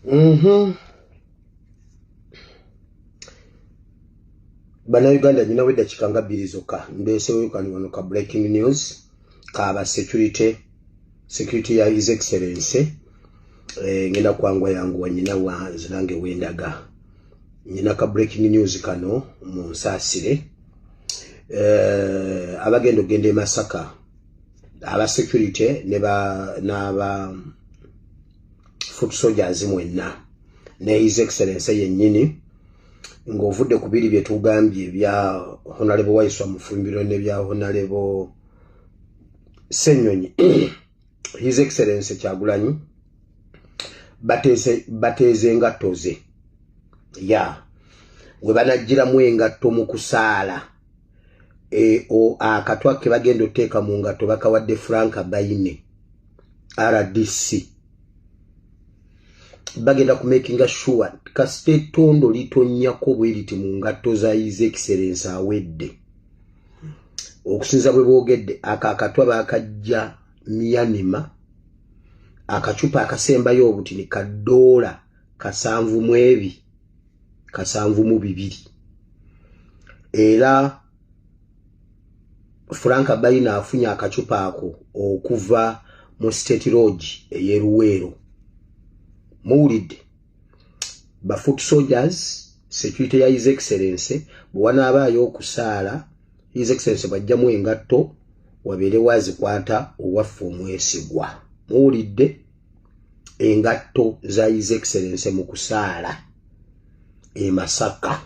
Mm-hmm. bannayuganda nyinawo eddakiika nga bbiri zokka mbeeseweyukani wano ka breaking news kaaba security security ya his excellency eh, ngenda kwangu yangu wanyina wa nzirange wendaga nyina ka breaking news kano mu nsaasire eh, abagenda okugenda e masaka aba security n'aba foot soldiers mwenna ne his excellence yennyini ng'ovudde ku biri bye tugambye ebya honalebo waiswa mufumbiro n'ebya honalebo ssenyonyi his excellence kyagulanyi bateeze engatto ze ya we banajjiramu engatto mu kusaala e, akatwa ke bagenda oteeka mu ngatto bakawadde frank baine rdc bagenda kumakinga sure kasita ettondo litonyako bweriti mu ngatto za his excellence awedde okusinza bwe boogedde ako akatwa baakajja myanima akacupa akasembayo obutini ka doola kasanvu mu ebi kasanvu mu bibiri era frank bayina afunye akacupa ako okuva mu state lodge eyeruweero muwulidde ba foot soldiers security ya his excellence bwanaabaayo okusaala his excellence bwajjamu engatto wabeere wazikwata owaffe omwesigwa muwulidde engatto za his excellence mu kusaala emasaka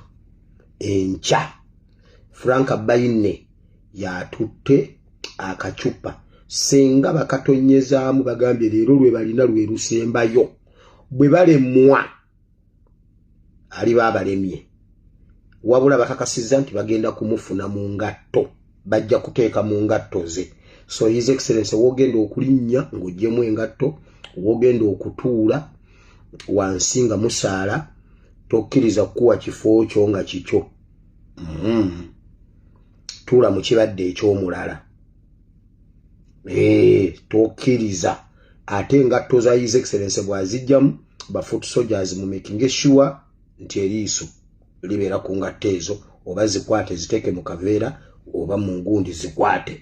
enkya frank baine yatutte akacupa singa bakatonnyezaamu bagambye leero lwe balina lwe lusembayo bwe balemwa aliba abalemye wabula bakakasizza nti bagenda kumufuna mu ngatto bajja kuteeka mu ngatto ze so his excellence wogenda okulinnya ng'ogyemu engatto wogenda okutuula wansi nga musaala tokkiriza kukuwa kifo kyo nga kikyo mm. tuula mu kibadde eky'omulala eh, tokiriza ate engatto za his excellence bwazijjamu bafoot soldiers mu making sure nti eriiso libeera ku ngatto ezo oba zikwate ziteeke mu kaveera oba mu ngundi zikwate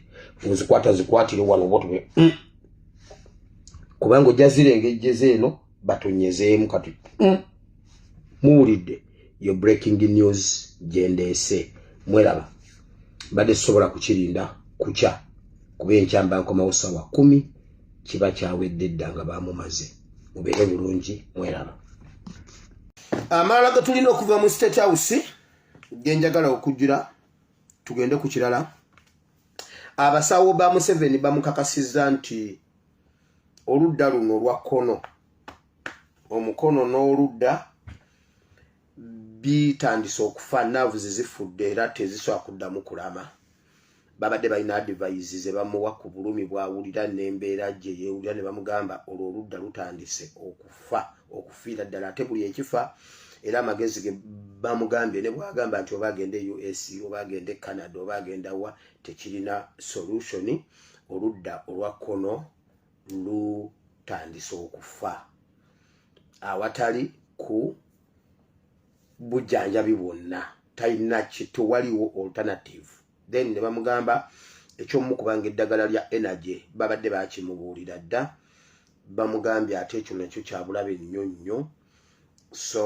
ozikwata zikwatire wano oba otume mm. kubanga ojja zirengejjeza eno batonyezeemu kati mm. muwulidde yo breaking news gyendeese mweraba mbadde sisobola kukirinda kukya kuba enkyamba nkomawo sawa kumi kiba kyawedde dda nga bamumaze mubeere bulungi mweraba amalala getulina okuva mu state house genjagala okujjira tugende ku kirala abasawo ba museveni bamukakasiza nti oludda luno olwa kkono omukono n'oludda bitandise okufa naavu zezifudde era tezisobola kuddamu kulama babadde balina adivise ze bamuwa ku bulumi bwawulira n'embeera gye yeewulira ne bamugamba olwo oludda lutandise okufa okufiira ddala ate buli ekifa era amagezi ge bamugambye ne bwagamba nti oba agenda e us oba agenda e canada oba agenda wa tekirina solutioni oludda olwa kkono lutandise okufa awatali ku bujjanjabi bwonna talina kitewaliwo alternative then ne bamugamba ekyomukubanga eddagala lya energy babadde bakimubuulira dda bamugambye ate ekyo nakyo kyabulabe nnyo nnyo so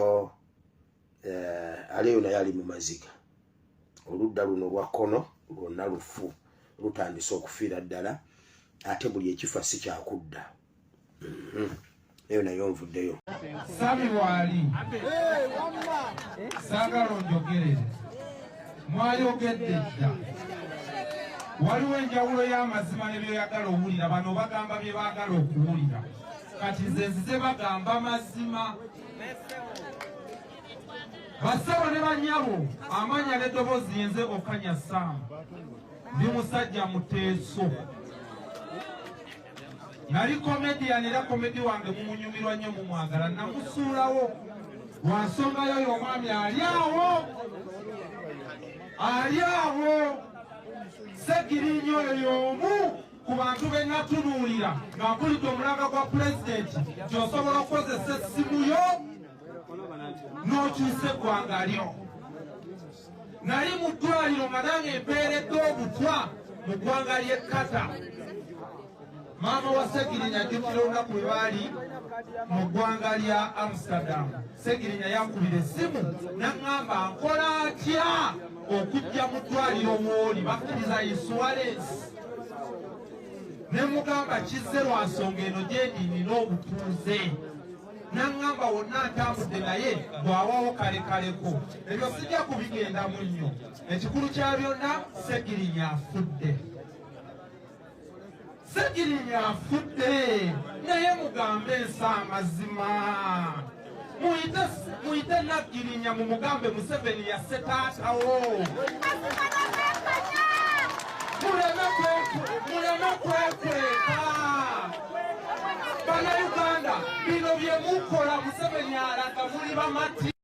eh, aleyo naye ali mu maziga oludda luno lwa kkono lwonna lufu lutandise okufiira ddala ate buli ekifa si kyakudda mhm. eyo naye onvuddeyo sami waali saagala onjogerere mwayogedde dda waliwo enjawulo y'amazima ne byoyagala owulira bano bagamba bye baagala okuwulira kati nze nzize bagamba mazima bassebo ne bannyabo amanya n'eddoboozi yenze okanya saamu ndi musajja muteeso nali komedian era komedi wange mumunyumirwa nnyo mumwagala namusuulawo lwa nsonga yo yo omwami ali awo ali awo segirinyo oyo y'omu ku bantu be natunuulira nga nkulidde omulanga gwa pulezidenti gyosobola okukozesa essimu yo n'okyusa eggwanga lyo nali mu ddwaliro nga nange empeeredde obutwa mu ggwanga ly'e kata maama wa segirinya ajjukira olunaku lwe baali mu ggwanga lya amsterdam segirinya yankubira essimu naŋŋamba nkola atya okujja mu ddwaliro wooli bakkiriza insuwalensi ne mugamba kizze lwa nsonga eno gyendi nina obutuuze naŋŋamba wonna ntambudde naye bw'awawo kale kaleko ebyo sijja kubigendamu nnyo ekikulu kya byonna segirinya afudde segirinya afudde naye mugambe ensi amazima muyite muyite naggirinya mu mugambe museveni yasse taatawo muleme kwekweka banauganda bino bye mukola museveni alaga muli bamati